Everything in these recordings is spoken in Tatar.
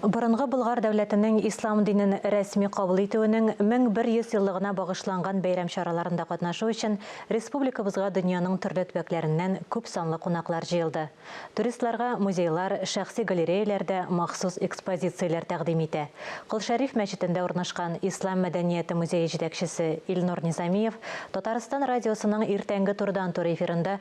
Борынгы Болгар дәүләтенең ислам динен рәсми кабул итүенең 1100 еллыгына багышланган бәйрәм чараларында катнашу өчен республикабызга дөньяның төрле төбәкләреннән күп санлы кунаклар җыелды. Туристларга музейлар, шәхси галереяләр дә махсус экспозицияләр тәкъдим итә. Кол Шәриф мәчетендә урнашкан Ислам мәдәнияте музее җитәкчесе Илнур Низамиев Татарстан радиосының иртәнге турыдан-туры эфирында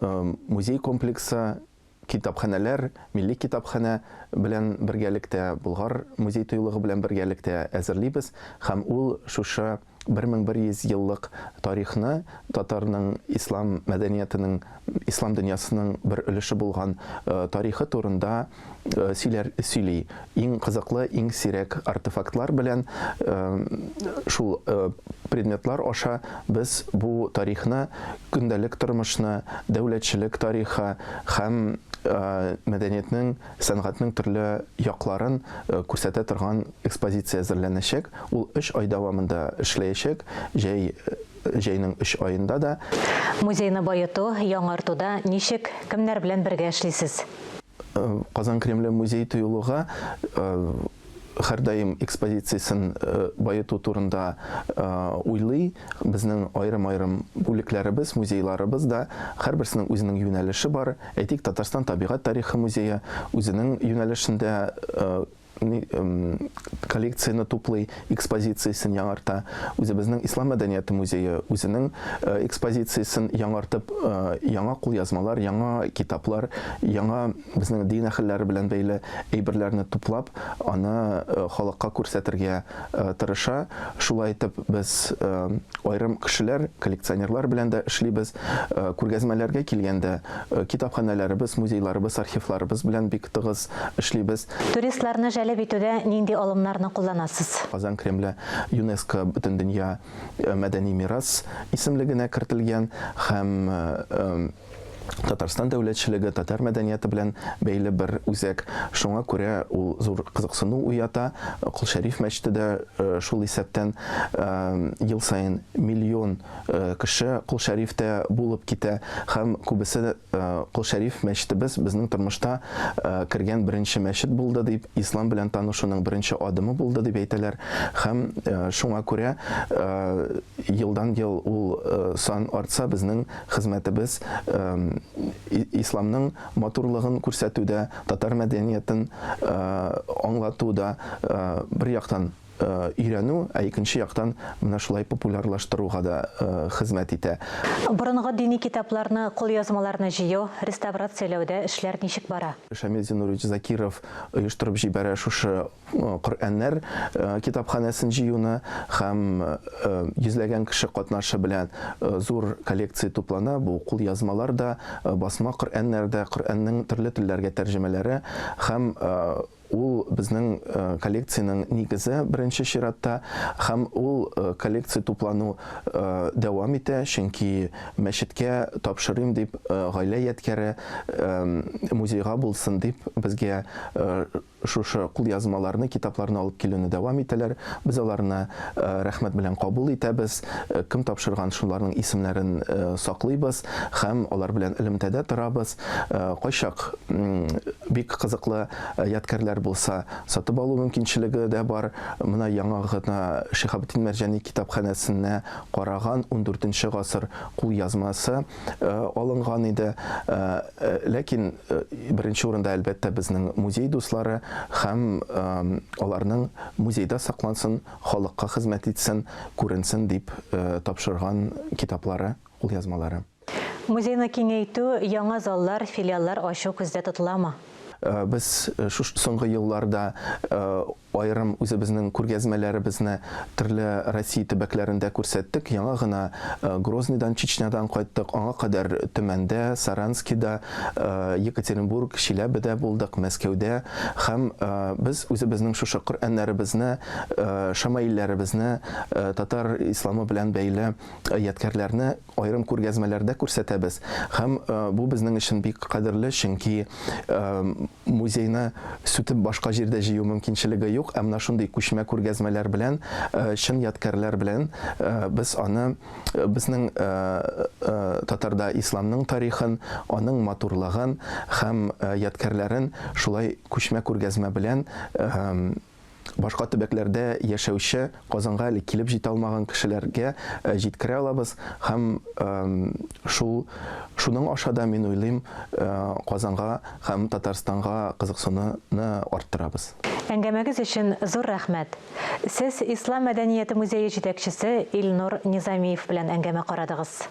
Музей комплексы китапханәләр, милли китапханә белән бергәлектә, Болгар музей-тыюлыгы белән бергәлектә әзерлибез һәм ул шушы 1100 еллык тарихны татарның ислам мәдәниятенең, ислам дөньясының бер өлеше булган тарихы турында сөйләр сөйли. Иң кызыклы, иң сирәк артефактлар белән шул предметлар аша без бу тарихны, көндәлек тормышны, дәүләтчелек тарихы һәм мәдәниятнең, сәнгатьнең төрле якларын күрсәтә торган экспозиция әзерләнәчәк. Ул өч ай дәвамында эшләячәк. Җәй Җәйнең өч аенда да. Музейны баету, яңартуда ничек, кемнәр белән бергә эшлисез? Казан Кремле музей-тыюлыгы һәрдаим экспозициясен баету турында уйлый. Безнең аерым-аерым бүлекләребез, музейларыбыз да, һәрберсенең үзенең юнәлеше бар. Әйтик, Татарстан табигать тарихы музее үзенең юнәлешендә коллекцияне туплый, экспозициясен яңарта. Үзебезнең Ислам мәдәнияте музее үзенең э, экспозициясен яңартып, э, яңа кулъязмалар, яңа китаплар, яңа безнең дин әһелләре белән бәйле әйберләрне туплап, аны э, халыкка күрсәтергә тырыша. Шулай итеп без айрым кешеләр, коллекционерлар белән дә эшлибез. Күргәзмәләргә килгәндә китапханәләребез, музейларыбыз, архивларыбыз белән бик тыгыз эшлибез. Туристларны җәлеп итүдә нинди алымнарны кулланасыз? Казан Кремле ЮНЕСКО Бөтендөнья мәдәни мирас исемлегенә кертелгән һәм Татарстан дәүләтчелеге, татар мәдәнияты белән бәйле бер үзәк. Шуңа күрә ул зур кызыксыну уята. Кол Шәриф мәчете дә шул исәптән. Ел саен миллион кеше Кол Шәрифтә булып китә һәм күбесе Кол Шәриф мәчетебез безнең тормышта кергән беренче мәчет булды дип, ислам белән танышуның беренче адымы булды дип әйтәләр һәм шуңа күрә елдан-ел ул сан артса, безнең хезмәтебез исламның матурлыгын күрсәтүдә, татар мәдәниятен аңлатуда бер яктан, өйрәнү, ә икенче яктан менә шулай популярлаштыруга да хезмәт итә. Борынгы дини китапларны, кулъязмаларны җыю, реставрацияләүдә эшләр ничек бара? Шамил Зинурович Закиров оештырып җибәрә шушы Коръәннәр китапханәсен җыюны һәм йөзләгән кеше катнашы белән зур коллекция туплана, бу кулъязмалар да, басма Коръәннәр дә, Коръәннең төрле телләргә тәрҗемәләре һәм Ул, безнең коллекциянең нигезе, беренче чиратта. Һәм ул коллекция туплану дәвам итә, чөнки мәчеткә тапшырыйм дип, гаилә ядкяре музейга булсын дип, безгә шушы кулъязмаларны, китапларны алып килүне дәвам итәләр. Без аларны рәхмәт белән кабул итәбез. Кем тапшырган, шуларның исемнәрен саклыйбыз һәм алар белән элемтәдә торабыз. Кайчак бик кызыклы ядкәрләр булса, сатып алу мөмкинчелеге дә бар. Менә яңа гына Шиһабетдин Мәрҗани китапханәсенә караган ундүртенче гасыр кулъязмасы алынган иде. Ләкин беренче урында, әлбәттә, безнең музей дуслары һәм аларның музейда саклансын, халыкка хезмәт итсен, күренсен дип тапшырган китаплары, кулъязмалары. Музейны киңәйтү, яңа заллар, филиаллар ачу күздә тотыламы? Без шушы соңгы елларда аерым үзебезнең күргәзмәләребезне төрле Россия төбәкләрендә күрсәттек. Яңа гына Грозныйдан, Чечнядан кайттык. Аңа кадәр Төмәндә, Саранскида, Екатеринбург, Чиләбедә булдык, Мәскәүдә. Һәм без үзебезнең шушы Коръәннәребезне, шәмаилләребезне, татар исламы белән бәйле ядкярләрне Аерым күргәзмәләрдә күрсәтәбез һәм бу безнең өчен бик кадерле, чөнки музейны сүтеп башка җирдә җыю мөмкинчелеге юк, ә менә шундый күчмә күргәзмәләр белән, чын ядкәрләр белән без аны, безнең татарда исламның тарихын, аның матурлыгын һәм ядкәрләрен шулай күчмә күргәзмә белән Башка төбәкләрдә яшәүче, Казанга әле килеп җитә алмаган кешеләргә җиткерә алабыз һәм шул шуның аша да, мин уйлыйм, Казанга һәм Татарстанга кызыксынуны арттырабыз. Әңгәмәгез өчен зур рәхмәт! Сез Ислам мәдәнияте музее җитәкчесе Илнур Низамиев белән әңгәмә карадыгыз.